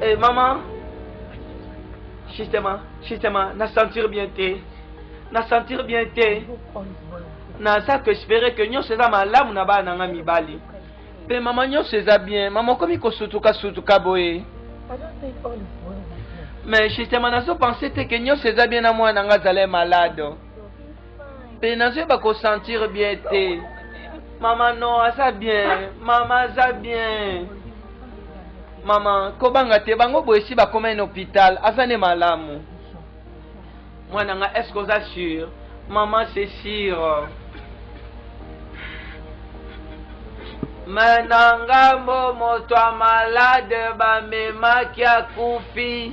Hey, eh, maman, justement, justement, na sentir bien te, na sentir bien te, na ça que espérer que nous sommes malamu na ba nanga mibali. Pe maman nous sommes bien, maman komi ko sutuka sutuka boye. Mais justement, na so penser que nous sommes bien na moi nanga zale malade. mpe nazoyeba kosentir bien te mama no aza bien mama aza bien mama kobanga te bango boye esi bakoma ene hôpital aza nde malamu mwana nga est ce que oza sur mama c'est sur me na ngambo moto ya malade bamemaki akufi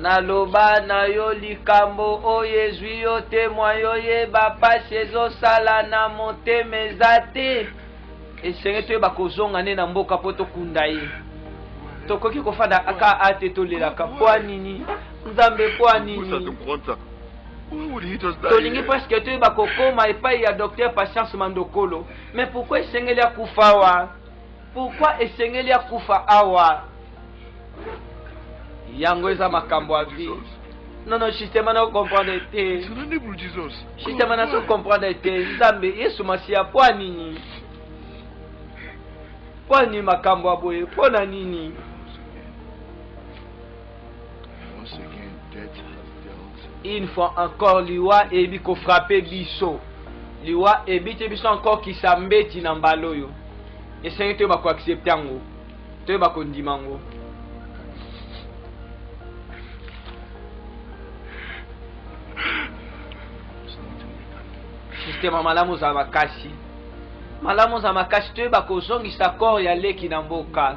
Naloba na yo likambo oyo ezwi yo te mwa yo yeba mpasi ezosala na motema eza te esenge toyeba kozonga nde na mboka mpo tokunda ye tokoki kofanda aka a te tolelaka mpo ya nini nzambe mpo ya nini tolingi presque toyeba kokoma epai ya docteur patience mandokolo mais pourkui esengeli akufa wa Pourquoi esengeli akufa awa? Yango eza makambo ya vie. Non, non, justement, na comprendre te. Justement, na comprendre te. Nzambe, Yesu Masiya, mpo nini? Mpo nini makambo ya boye? Mpo na nini? Une fois encore liwa eyebi ko frapper biso. Liwa ebite biso encore kisambeti na mbala oyo. Esengi toyeba ko accepter yango. Toyeba kondima yango. systeme malamu ozala makasi malamu ozala makasi toyeba kozongisa corps ya leki na mboka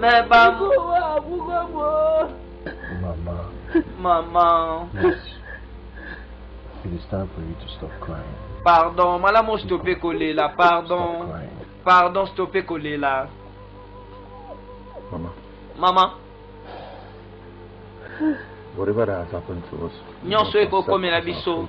Mais maman. Maman. Maman. It is time for you to stop crying. Pardon, malamu stoppe kolela, pardon. Pardon, stoppe kolela. Maman. Maman. Nyonso ekokomela biso.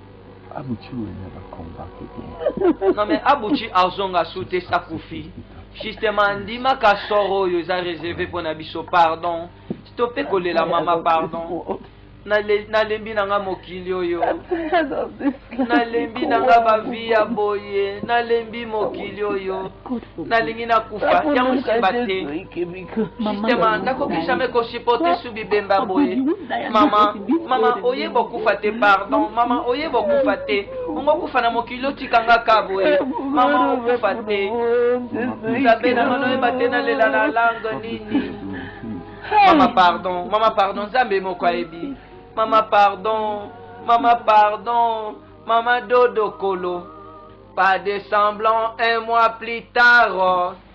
Abuchi wenya ba combat kete. Non mais Abuchi azonga sute sa kufi. Justement ndima ka soro yo za réservé pour na biso pardon. Stoppez kolela mama pardon. nalembi na nga mokili oyo nalembi na nga bavi ya boye nalembi mokili oyo nalingi nakufa yango nsima te Justement, nakoki jamais ko supporter sous bibemba boye. Mama, mama oye bokufa te pardon. Mama oye bokufa te. Ongo kufa na mokili otikanga ka boye. Mama okufa te. Nzambe na mano yeba te nalela na langue nini. Mama pardon, mama pardon, Nzambe moko ayebi. Mama pardon, mama pardon, mama dodo kolo. Pas de semblant un mois plus tard.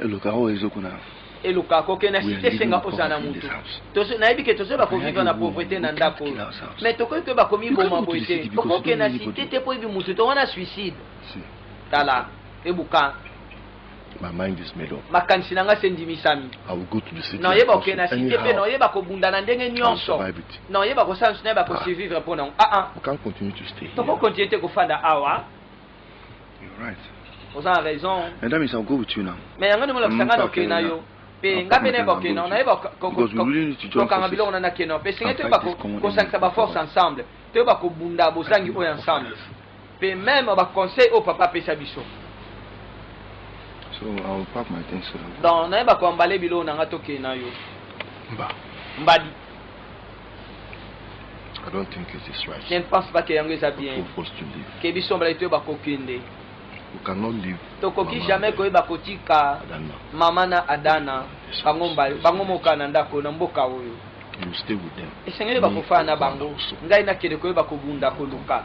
Eloka oyo ezo kuna. Eloka ko kena site senga oza na mutu. Tozo nayebi ke tozo ba ko vivre na pauvreté na ndako. Mais tokoki ko ba ko mi boma boye te. Oko kena site te po ebi mutu to wana suicide. Tala ebuka My mind is made up. makanisi na ngai se endimisami naoyeba oke na site mpe naoyeba kobunda na ndenge nyonso naoyeba kosala nso nayeba kosurvivre mpo nango aa tokokontinue te kofanda awa oza raison madame is a good tuna mais yango ndenge olakisa ngai nokei na yo mpe nga mpe nayeba okeno nayeba kokanga biloko na nakeno mpe esengi toyeba kosangisa baforce ensemble toyeba kobunda bozangi oyo ensemble mpe meme baconseil oyo papa apesa biso donc nayeba koambale biloko na ngai tokei na yo mbadi I don't think it is right. Je ne pense pas que yango eza bien. Que biso mbala etoyo bakokende. You cannot live. Tokoki jamais koyeba kotika mama na Adana bango mbala bango moka na ndako na mboka oyo. You stay with them. Esengeli bakofana na bango. Ngai nakende koyeba kobunda koluka.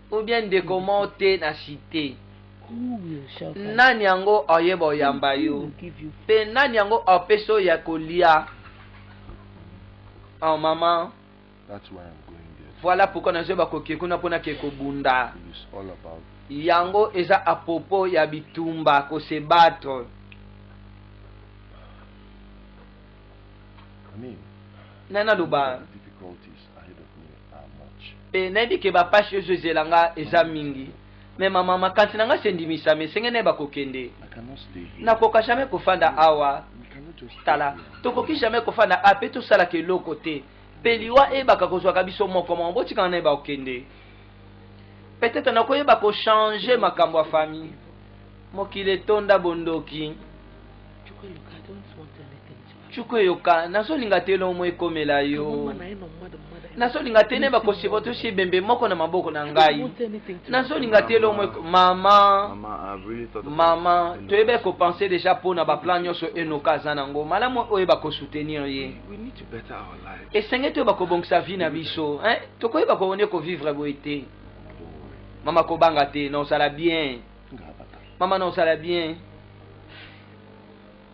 ou bien ndeko moko te na site nani yango oyeba oyamba yo mpe nani yango opesi oyo ya kolia oh mama voilà pourquoi nazoyeba koke kuna mpo nake kobunda yango eza a propos ya bitumba ko se battre nani aloba e nayebi ke bapasi oyo ezozela nga eza mingi me mama makanisi na nga sendimisami esenge nayeba kokende nakoka jamais kofanda awa tala tokoki jamais kofanda a mpe tosalaka eloko te mpe liwa eyebaka kozwaka biso moko moko botikana nayeba kokende peut-être nakoyeba kochange makambo ya famille mokili etonda bondoki cuku eyoka nazolinga te elongo moko ekomela yo nazolinga te neba koseba tosi ebembe moko na maboko na ngai nazolinga te elongo moko mama mama toyebi ekopense deja mpo na baplan nyonso enoka aza na yango malamu oyeba kosoutenir ye esenge toyeba kobongisa vie na biso tokoyeba koone kovivre boye te mama kobanga te na ozala bien mama na ozala bien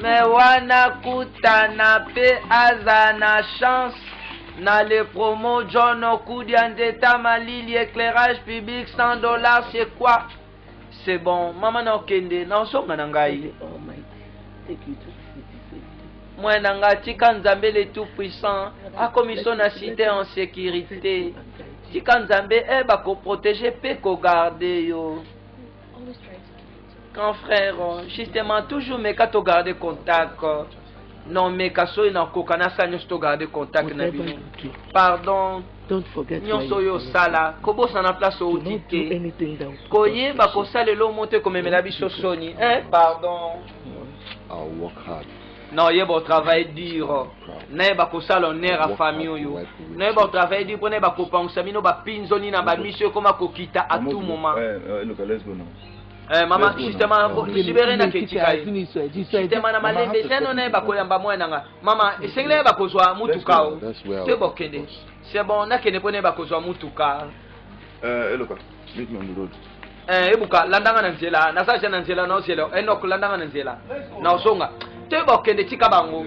Mais wana kutana pe aza na chance na le promo John Okudia Nzeta Malili éclairage public 100 dollars c'est quoi C'est bon mama na okende na osonga na ngai mwana na ngai tika nzambe le tout puissant akomiso na site en sécurité tika nzambe e eh, bakoprotege mpe kogarde yo Grand frère, justement, toujours meka to garder contact. Non, meka soyi na koka na sa nyonso to garder contact na bino. Pardon. nyonso oyo osala kobosana place outi te koyeba kosalela omo te komemela biso soni eh, pardon non yeba otravaille dur nayeba kosala honneur ya famille oyo nayeba otravaille dur mpo nayeba kopangwisa bino bapinzoni na bamiso ekoma kokita à tout moment eh, eh, Eh, mama justement libere na ketikai justement na malembe seno naye bakoyamba mwana nga mama esengeli ye bakozwa mutuka o te bokende c'est bon nakende mpo naye bakozwa mutuka eh, eloka eh, ebuka landanga na nzela naza ja na nzela naozela enok landanga na nzela naozonga te bokende tika bango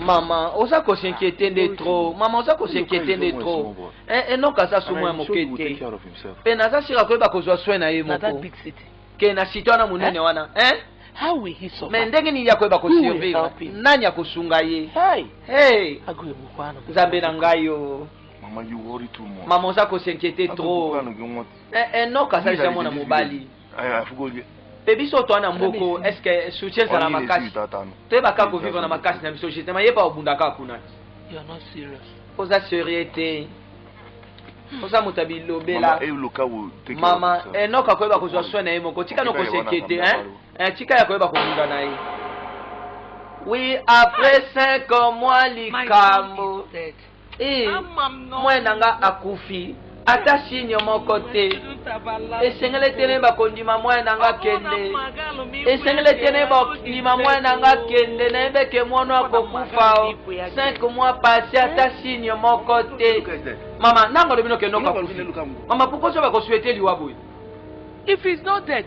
mama oza kosinquiete nde trop mama oza kosinquiete nde trop enoka aza somo ya moke te mpe naza sira koyeba kozwa soin na ye moko ke na site wana monene wana me ndenge nini akoyeba kosurvivre nani akosunga ye nzambe na ngai yo mama oza kosinquiete trop enoka asalisa mwana mobali mpe biso toa na mboko estce soutien ezala makasi toyeba kaka kovivre na makasi na biso justement ye pa obunda kaka kuna oza serieux te oza moto ya bilobela mama enok akoyeba kozwa soin na ye moko tika no kosekete eh, tika ya koyeba kobunda na ye oui après 5 mois likambo Ee, mwana na ngai akufi. Ata sinyo moko te. Esengeli te nayeba kondima mwana na ngai kende. Esengeli te nayeba kondima mwana na ngai kende. Nayebi eke mwana akokufa o 5 mois passé, ata eh? sinyo moko te. Mama, nanga lobi nokende okakufi. Mama, pourquoi soki bakosuete liwa boye? If he's not dead,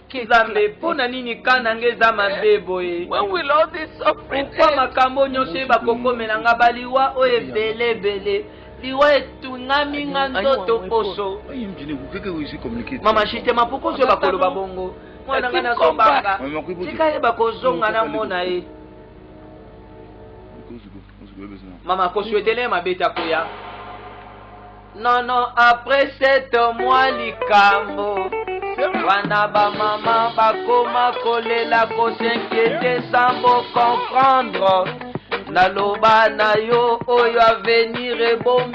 Nzambe, mpo na nini kaa na nga eza mabe boye? Pourkoi makambo nyonso oyo bakokomela nga baliwa oyo ebele ebele liwa etungami nga nzoto poso mama shite mapokoso oyo bakoloba bongo mwana nga nazobanga tika ye bakozonga namona ye mama kosuetele mabe te akoya non non après sept mois likambo wana bamama bakoma kolela kosinkiete sambo comprendre naloba na yo oyo avenir ebomi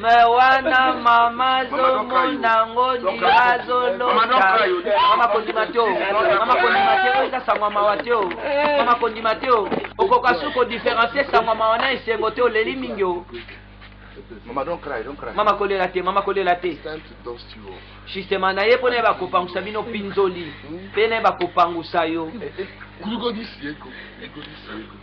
me wana mama azomona ngo ndira azolomama kondima te o mama kondima te o eza sangwa mawa te o mama kondima te o okoka su kodiferencie sangwa mawa na esengo te oleli mingi o Mama, don't cry, don't cry. Mama kolela te, mama kolela te. Justement, na ye pona ba kopangusa bino pinzoli. Hmm? Pe na ba kopangusa yo. Eh, eh, Kuliko disieko, kuliko disieko.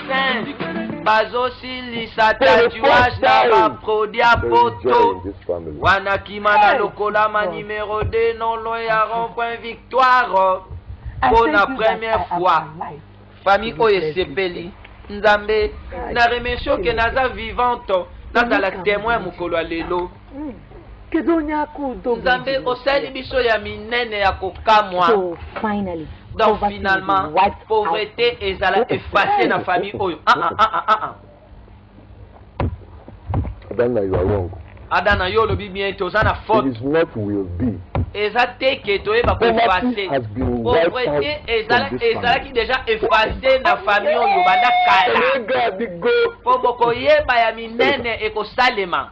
fin bazosilisa tatuage na baprodi ya poto wana kima na lokolama numero 2 nolo ya rond-point victoire mpo na première fois famille oyo esepeli nzambe na remercie oke naza vivante nazala temoin mokolo ya lelo nzambe osali biso ya minene ya kokamwa donc finalement pauvreté ezala efface na famille oyo ah, ah, ah, ah, ah. ah. adana yo alongo adana yo olobi bien ete oza na faute eza te ke toyeba ko efface pauvreté ezalaki deja efface na famille oyo banda kala mpo bokoyeba ya minene ekosalema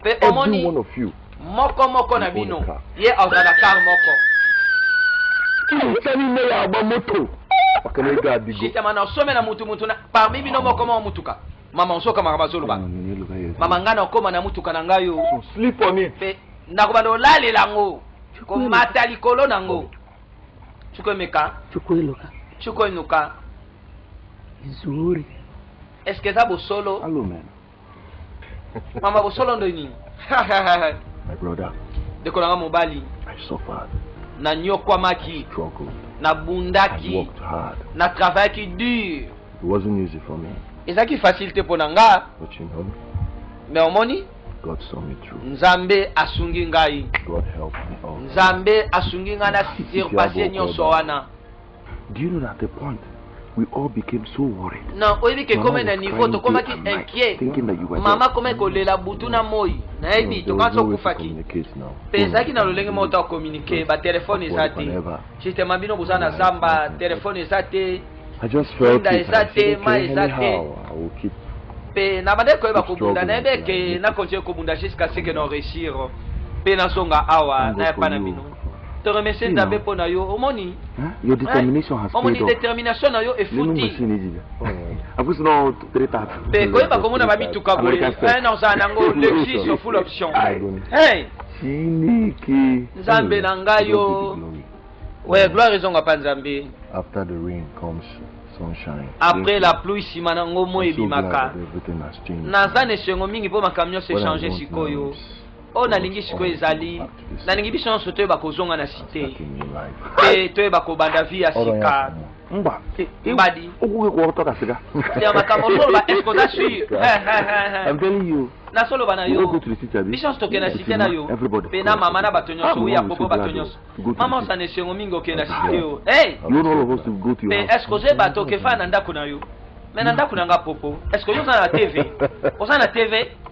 Mpe omoni, moko moko na bino, ye azwa na kar moko. Justement, na some na mutu mutu na parmi bino moko moko motuka. Mama, osoka makambo azoloba. Mama, ngai nakoma na motuka na ngai oyo. Mpe nakobanda kolalela yango, komata likolo na yango. Chukwemeka. Chukwemeka. Chukwemeka. Nzuri. Est-ce que eza bosolo? mama bosolo ndo nini My brother, ndeko na nga mobali I suffered, nanyokwamaki struggled, and nabundaki worked hard. natravayaki dur It wasn't easy for me, ezalaki facile te mpo na nga but you know, me omoni God saw me through. nzambe asungi ngai God helped me out. nzambe asungi ngai na surpasse nyonso wana Do you know that at the point we all became so worried? Non, oyebi ke kome na niveau tokomaki inquiet. Mama kome kolela butu na moi. Nayebi tokanso okufaki. Pe ezalaki na lolenge moko to communiquer, ba telefone eza te. Justement bino boza na zamba, telefone eza te. I just felt it. Eza te, ma eza te. Pe na bande koyeba kobunda, nayebi eke na continuer kobunda jusqu'à ce que non réussir. Pe na songa awa, na ya pana bino. te remercier nzambe mpo na yo omoni your determination has omoni determination na yo efuti mpe koyeba komona bamituka boye na ozala nango lexus yo full option nzambe na ngai yo we gloire ezonga mpa nzambe after the rain comes sunshine. Après la pluie, si manango moi ebimaka. Naza na esengo mingi mpo makambo nyonso echange sikoyo. oyo nalingi sikoyo ezali nalingi biso nyonso toyeba kozonga na site te toyeba kobanda vi ya sika mba e, e, mbadi okoki kokotoka sika ya makambo ozoloba eske oza sur I'm telling you nasoloba na yo biso nyonso tokenda site na yo mpe na mama na bato nyonso oya popo bato nyonso mama osana esengo mingi okenda site yo mpe eske ozoyeba tokefana na ndako na yo me na ndako na nga popo eske oyo oza na tv oza na tv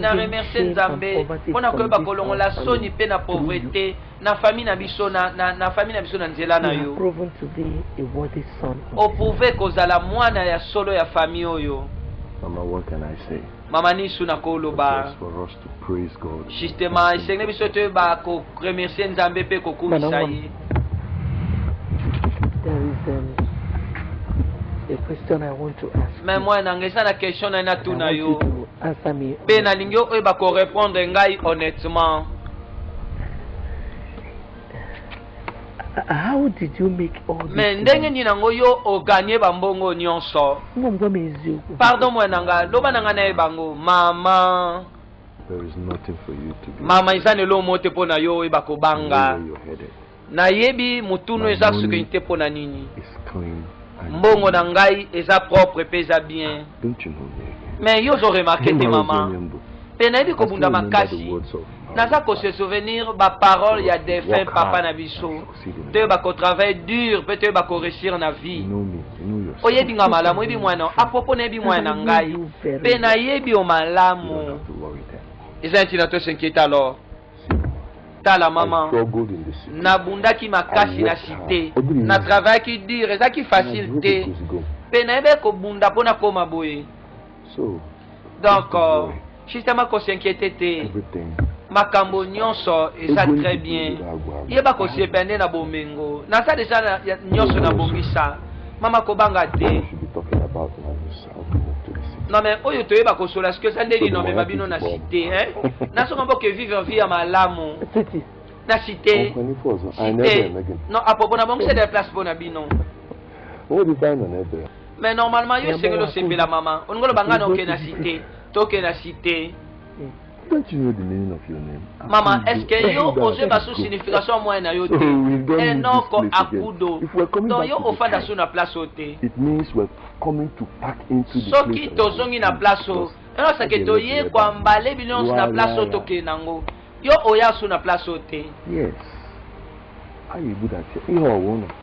na remercie nzambe mpo na koyeba kolongola soni mpe na pauvrete na fami na biso na, na, na fami na biso na nzela na yo oprouve kozala mwana ya solo ya fami oyo mama nisu nakoloba Praise God. Justement, esengeli biso toyeba ko remercier Nzambe mpe kokumisa ye. There is um, a question I want to ask. Mais moi nanga eza na question na natuna yo. Mpe nalingi oyeba ko répondre ngai honnêtement. How did you make all this? Mais ndenge nini nango yo o gagner ba mbongo nyonso? Ngo ngo mes yeux. Pardon moi nanga, loba nanga na bango, mama. There is nothing for you to do. Mama eza ne lo mote pona yo e bako banga. Na yebi mutuno eza ce que te pona nini? It's clean. Mbongo na ngai eza propre pe eza bien. Don't you know me? Mais yo zo remarquer te mama. Pe na yebi ko bunda makasi. naza ko se souvenir ba parole ya défunt papa na biso toyeba kotravaille dur mpe toyeba koréussir na vie oyebi nga malamu oyebi mwana apropo nayebi mwana na ngai mpe nayebi yo malamu eza neti na tosinkiete alors tala mama nabundaki makasi na site na travaillaki dur ezalaki facile te mpe nayebi kobunda mpo nakoma boye donc euh, justement kosinquiete te makambo nyonso eza très bien yeba kosepa nde na bomengo naza deja nyonso na bongisa mama kobanga te non mais oyo toyeba kosola soki eza nde lino amema bino na site hein nazonga mpo ke vivre vie ya malamu na site site non apropos na bongisa de place mpo na bino Oyo libanda na ebe. Mais normalement yo esengeli osepela mama. Olingi oloba ngai naokende na site. Tokende na site. Don't you know the meaning of your name? Mama, est-ce que yo ose basu signification ya moyen na yo te? Enoko akudo. Donc yo ofanda su na place oyo te. It means we're coming to pack into the place. Soki tozongi na place oyo, enoko ke toye kwa mbale bino na place oyo tokende nango. Yo oya su na place oyo te. Yes. Ayi buda te. Yo awona.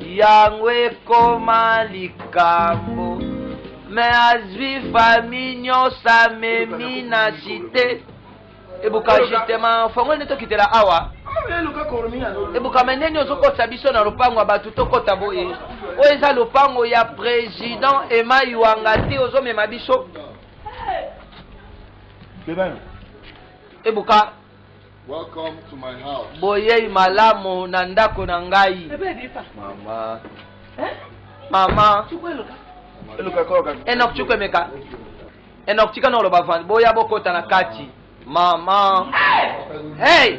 Yango ekoma likambo mais azwi famille nyonso amemi na cite ebuka justement fongoli nde tokitela awa ebuka me ndeni ozokotisa biso na lopango ya bato tokɔta boye oyo eza lopango ya président emai wanga te ozomema biso ebuka Welcome to my house. Boyei malamu na ndako na ngai. Mama. Eh? Mama. Enoch Chukwe meka. Enoch tika nolo bavandi. Boya bokota na kati. Mama. Hey!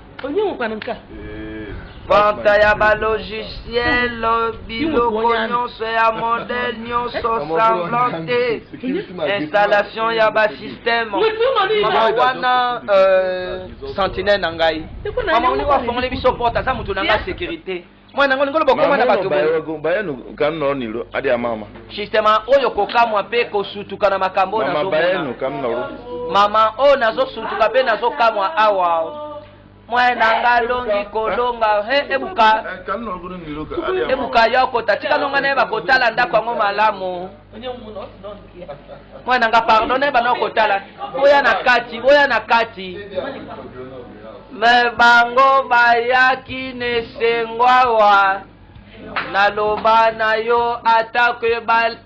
vente ya balogiciel biloko nyonso ya modele nyonso semblant te installation ya basystème mama wana euh, sentinelle na ngai mama olingo afongoli biso porte aza moto na ngai sécurité mwana yango lingolo bokoma na bato bayenu kamino nilo adi ya mama sistema oyo kokamwa mpe kosutuka na makambo oyo nazobayenu kamino mama oyo nazosutuka mpe nazokamwa awa mwana nga alongi kolonga he ebuka eh, ebuka yokota tika nonga naye bakotala ndako yango malamu mwana nga pardon na bana okotala boya na kati boya na kati me bango bayaki nesengwawa naloba na yo atako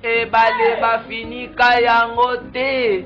ebale bafinika yango te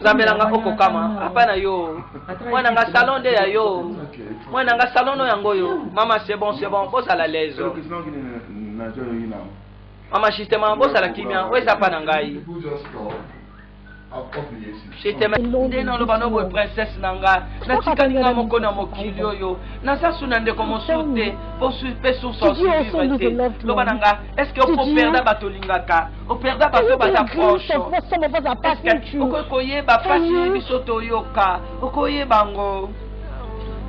nzambe na nga okokama apa na yo mwana nga salon nde ya yo mwana nga salon no yango oyo mama c'est bon c'est bon bozala lezo mama justement bozala kimia oyo eza pa na ngai nde naloba no boye princese na nga natikali nga moko na mokili oyo naza su na ndeko mosusu te mpe source osuivre te loba na nga estce okoperda bato olingaka operda bato baza proche estce okoki koyeba mpasi biso toyoka okoyeba yango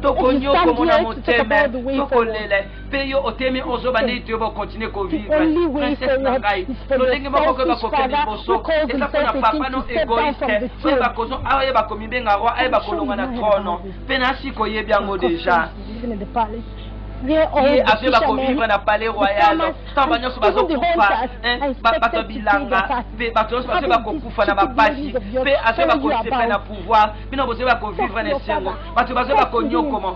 tokonyoko mona motema tokolela mpe yo otemi ozo bandeli te yo ba continue ko vivre princesse na ngai lolenge moko koye bakokende liboso eza mpo na papa no egoiste oyo bakozo aye bakomibenga roi aye bakolonga na trono mpe nasi koyebi yango deja ye ape bakovivre na palais royal ntango banyonso bazokufa bato ya bilanga mpe bato nyonso basoki bakokufa na bapasi mpe asoki bakosepela na pouvoir bino bozoki bakovivre na esengo bato bazoki bakonyokoma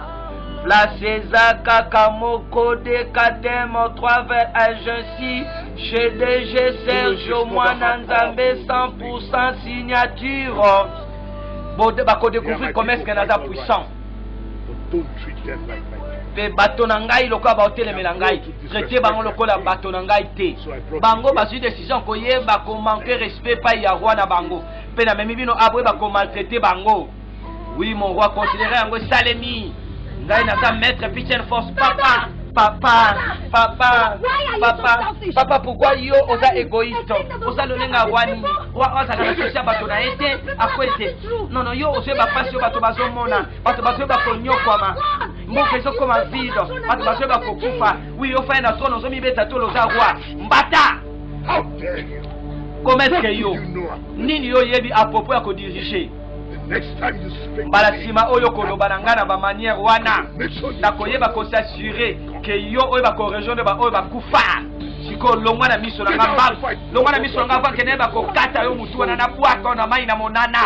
Place eza kaka moko de kadem 3 agency chez DG Sergio Mwana Nzambe 100% signature. Bode bako découvrir comment est-ce que naza puissant. mpe bato na ngai lokola baotelemela ngai traite bango lokola bato na ngai te bango bazwi décision koyeba komanque respect epai ya roi na bango mpe namemi bino aboyeba komaltraite bango Oui mon roi, considérez yango esalemi. Ngai naza maître Pichel Force papa. Papa, papa, papa, papa, pourquoi yo oza égoïste oza lolenga wani wa ozala na sosi ya bato na ye te akweli te nono yo ozwi bapasi oyo bato bazomona bato bazoyi bakonyokwama mboka ezokoma vide bato bazoyi bakokufa wi ofai na trone ozomibeta tolo oza roi mbata kometre yo nini yo oyebi apropos ya kodirige mbala nsima oyo koloba na ngai na bamaniere wana nakoyeba kosasure ke yo oyo bakorejoindre baoyo bakufa sikoyo longwa na miso na nga mbangu longwa na miso na nga vanke naye bakokata yo motu wana na bwaka na mai na monana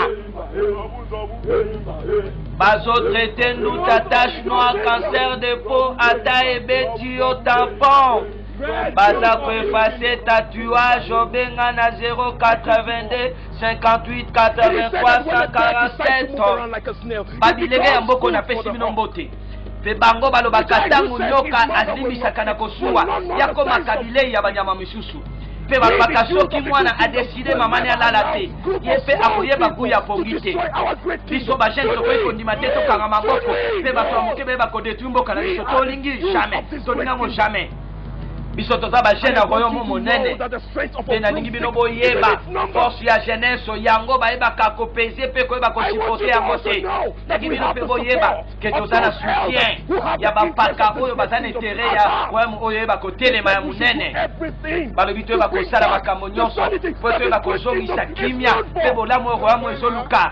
bazotraite nduta tache noir cancer de peau ata ebeti yo tampon baza koefase tatuage obenga na 082 58 8347 babilenge ya mboko napesi bino mbote mpe bango balobaka ntango nyoka azimbisaka na kosuwa yakomaka bilei ya banyama misusu mpe balobaka soki mwana adeside mamani alala te ye mpe akoyeba gu ya pongi te biso bagene tokoki kondima te tokanga maboko mpe bato ya moke bayeba kodetruire mboka na biso tolingi jamais tolingango jamais biso toza bajeune ya royaume monene mpe nalingi bino boyeba force ya jeunesse yango bayebaka kopese mpe koyeba kosipote yango te nalingi bino mpe boyeba ke toza na soutien ya bampaka oyo baza na intere ya royaume oyo oyeba kotelema ya monene balobi toyeba kosala makambo nyonso mpo toyeba kozongisa kimia mpe bolamu oyo royaume ezoluka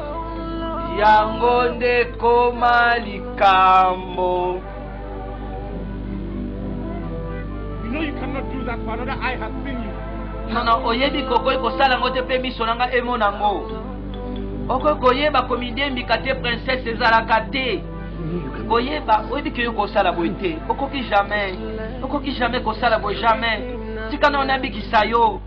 yango nde koma likambo nono oyebi kokoki kosala yango te mpe miso na ngai emona yango okoki koyeba komidembika te princese ezalaka te koyeba oyebi keyo kosala boye te okoki jamais okoki jamais kosala boye jamais tika na ona bikisa yo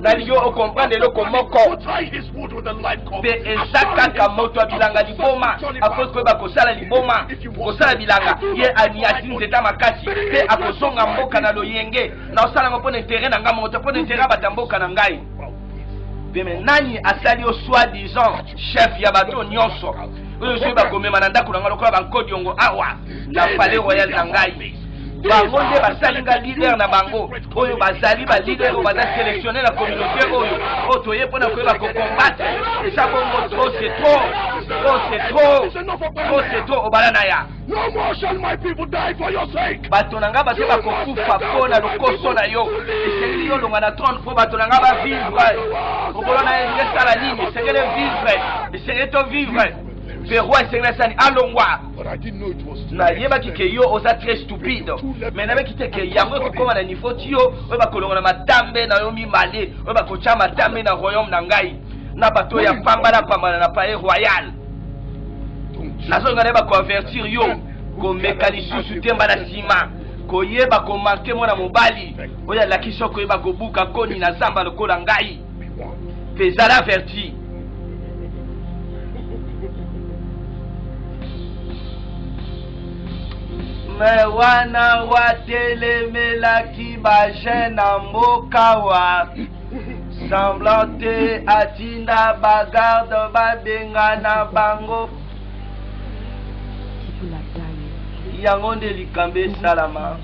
nalingi okomprendre eloko moko mpe eza kaka moto ya bilanga liboma akoki koyeba kosala liboma kosala bilanga ye aniati nzeta makasi mpe akozonga mboka na loyenge naosala yango mpo na intere na ngai moko te mpo na intere ya bato ya mboka na ngai peme nani asali yo soi disant chef ya bato nyonso oyo soki bakomema na ndako na ngai lokola bankodiongo awa na palais royal na ngai bango nde basali nga leader na bango oyo bazali balider oyo baza sélectionne na communauté oyo oyo toye mpona koyeba kocombatre eza bongo trop c'est trop trop c'est trop trop c'est trop obala na ya bato na nga bato bakokufa mpo na lokoso na yo esengeli yo longa na trone mpo bato na nga bavivre mokolo na ye esala nini esengeli vivre esengeli to vivre peroi esengeli asani alongwa nayebaki ke yo oza très stupide me nayebaki te ke yango ekokoma na niveau ti yo oyo bakolonga na matambe na yo mibale oyo bakotya matambe na royaume na ngai na bato ya pambana pambana na palais royal nazonga naye bakoavertir yo komeka lisusu te mba na nsima koyeba komanke mwana mobali oyo alakisi yo koyeba kobuka koni na zamba lokola ngai mpe zala averti me wana watelemelaki bajeune na mboka wa semblant te atinda bagarde babengana bango yango nde likambo esalama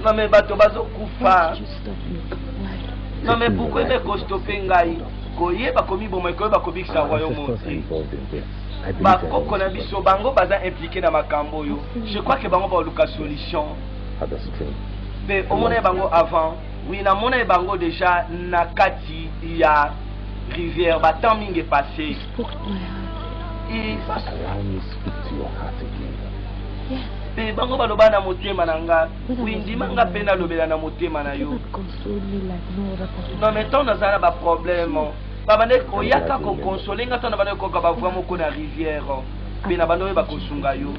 name bato bazokufa Non mais pourquoi me kostope ngai koyeba komiboma ekoyeba kobikisa royaume oti bakoko na biso bango baza implike na makambo oyo je crois ke bango baoluka solution mpe omona ye bango avant wi namona ye bango deja na kati ya rivière batemp mingi epasse mpe bango baloba na motema na nga Oui, ndima nga pe nalobela na motema na yo. Non mais tant naza na ba problème. Babandaki koyaka kokonsole nga ntango na bandaki koyoka bavoi moko na rivière mpe na bandaki oyeba kosunga yo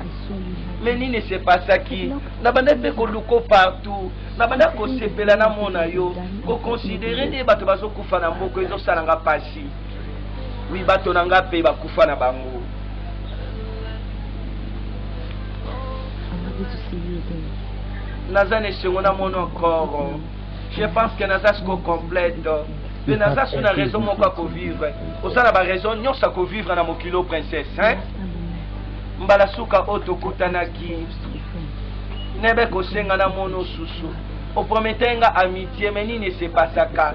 me nini esepasaki na bandaki mpe koluko partout na bandaki kosepela na mona yo kokonsidere nde bato bazokufa na moko ezosalanga mpasi wi bato na nga mpe bakufa na bango naza na esengo na monokoro je pense que naza siko complète mpe naza su na raison moko ya kovivre oza na baraison nyonso ya kovivre na mokilo princesse hein? mbala suka oyo tokutanaki nebe kosenga na mono susu opromete nga amitié me nini esepasaka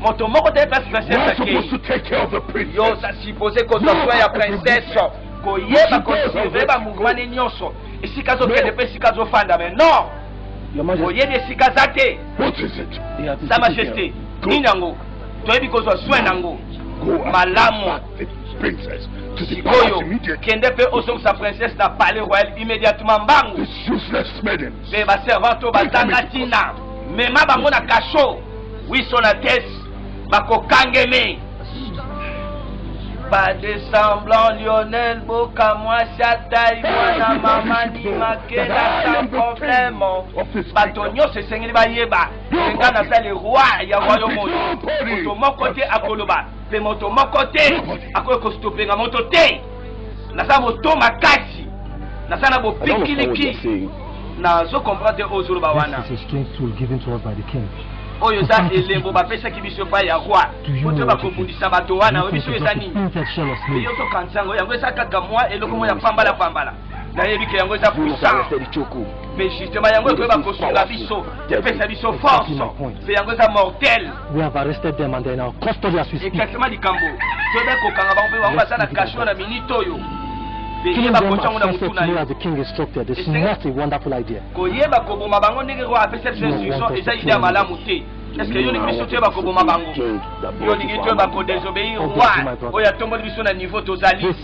moto moko te place princesse akei yo oza suppose kozwa soin ya princesse koyeba kosurveille bamouvement ne nyonso esika azokende mpe esika azofanda mais non oyebi esika aza te sa majesté nini yango toyebi kozwa soin yango malamu sikoyo kende mpe ozongisa princesse na palais royal immédiatement mbangu mpe baservante oyo bazanga ntina mema bango na kasho wisonates bakokangeme pas de semblant Lionel Boka moi Chataï mwana mama Limakela sans problème bato nyonso esengeli bayeba nga naza le roi ya royaume oyo moto moko te akoloba mpe moto moko te akoki kostopenga moto te naza moto makasi naza na bopikiliki nazo comprendre te ozoloba wana oyo eza elembo bapesaki biso epai ya roi kutu bakobundisa bato wana oyebi soki eza nini eyotoka nsango yango eza kaka mwa eloko moko ya pambala pambala nayebi ke yango eza puissant mais justement yango ekoyeba kosunga biso epesa biso force mpe yango eza mortel exactement likambo toyeba kokanga bango mpe bango baza na kasho na minute oyo koyeba kotya yango na motu na yo koyeba koboma bango ndenge oyo apesa biso instruction eza ide ya malamu te eske yo olingi biso toyeba koboma bango yo olingi toyeba kodesobeyir roi oyo atomboli biso na niveau tozali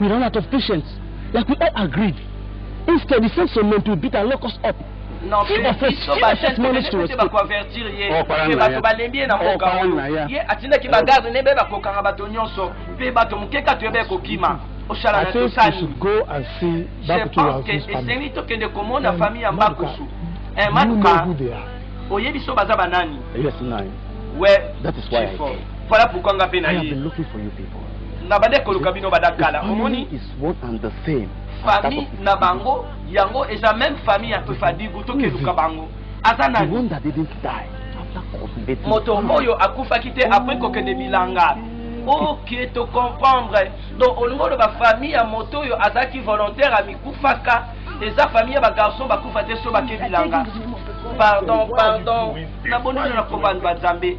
We run out of patience. Like we all agreed. Instead, he sent some men to beat and lock us up. Non, si on fait, si on fait manage to respect. bakoavertir ye mpe bato balembi ye na mboka oyo ye atindaki bagarde ne be bakokanga bato nyonso mpe bato moke kati oyo bekokima oshala na tosali je pense que esengeli tokende komona famille ya mbakusu maluka oyebi biso baza banani we voilà pourquoi nga mpe na ye na bande koluka bino bada kala omoni famille na bango yango eza même famille ya tofadigu tokeluka bango aza nani moto oyo akufaki te apres kokende bilanga oke tocomprendre donc olingi oloba famille ya moto oyo azalaki volontaire amikufaka eza famille ya bagarçon bakufa te so bake bilanga pardon pardon na bonino na kobanba nzambe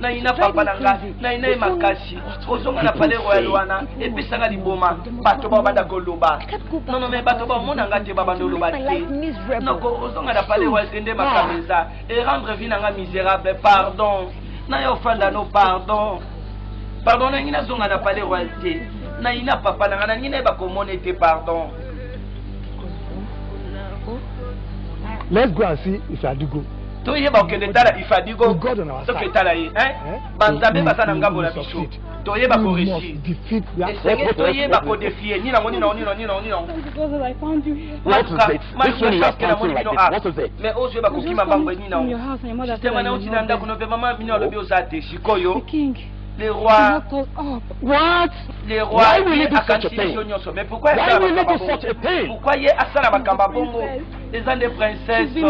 nayina papa na nga nayina ye makasi kozonga na palais royal wana epesaka liboma bato bao banda koloba nono me bato baomona nga te babanda oloba te noko ozonga na palais royal te nde makambo eza erendre vie na nga miserable pardon naye ofanda no pardon pardon nangi nazonga na palais royal te nayina papa na nga nangi naye bakomona ete pardon Let's go and see if Adigo. toyeba kokende tala ifadigo soki etala ye eh? eh? banzambe baza na ngambo na biso toyeba koresi esengeli toyeba kodefie nini yango nini yango nini yango nini yango namoni bino a mais ozoyeba kokima bango nini yango sistema nauti na ndako no mpe mama bino alobi oza te sikoyo le roi. What? Le roi. Why will you do such a thing? Why will you do such a thing? Pourquoi il est à Salabakamba Bongo? eza nde princesse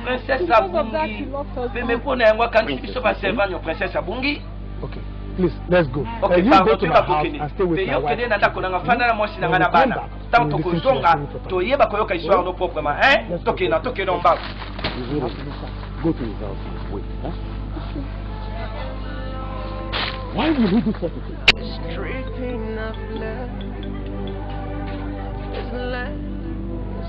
princesse abungi peme mpo na yango akangisi biso baservant yo princesse abungi okay. Please, let's go. Okay, you go to my house and stay with my wife. na ndako nanga fanda na mwasi nanga na bana. Tango tokozonga toyeba koyoka histoire no proprement, hein? Toke na toke na mbao. Go to his house. Wait, huh? Why would he do such a thing? Street enough left. There's left.